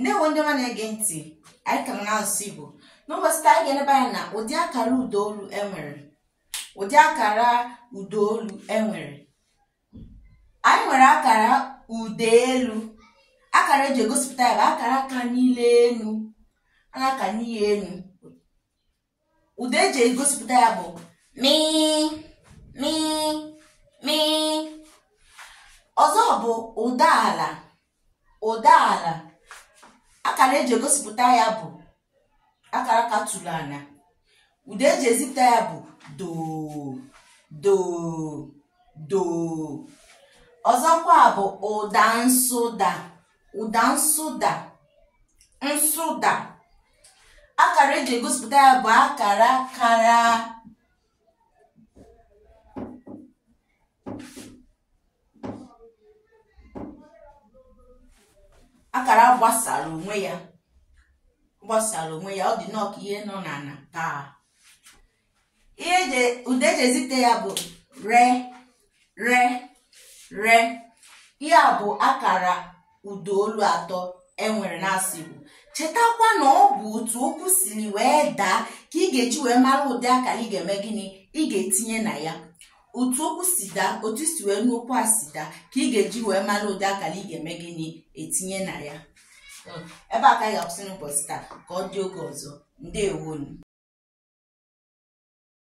ndewo ndị ọma na-ege ntị anyị ka nọ n'asụsụ igbo n'ụbọchị taa anyị ga-eleba anya na ụdị akara ụdaolu enwere ụdị akara ụdaolu enwere anyị nwere akara ụda elu akara eji egosipụta ya bụ akara kanili enu a na-aka n'ihe enu ụda eji egosipụta ya bụ mi mi mi ọzọ bụ ụda ala ụda ala akara eji egosipụta ya bụ akara katụrụ ala ụda eji ezipụta ya bụ do do do ọzọkwa bụ ụda nsụda ụda nsụda nsụda akara eji egosipụta ya bụ akara kara akara gbasara onwe ya gbasara onwe ya ọ dị nnọọ ka ihe nọ n'ala paa ihe ụda eji ezite ya bụ re re re ihe a bụ akara ụda olu atọ enwere n'asụsụ Igbo chetakwa na ọ bụ otu okwu siri wee daa ka ị ga-eji wee mara ụdị akara ị ga-eme gịnị ị ga-etinye na ya otu okwu si daa otu i si wee nụ okwu a si daa ka ị ga-eji wee mara ụdị akara ị ga-eme gịnị etinye na ya hmm. ebe a ka anyị ga-akwụsị n'ụbọchị taa ka ọ dị oge ọzọ ndewonụ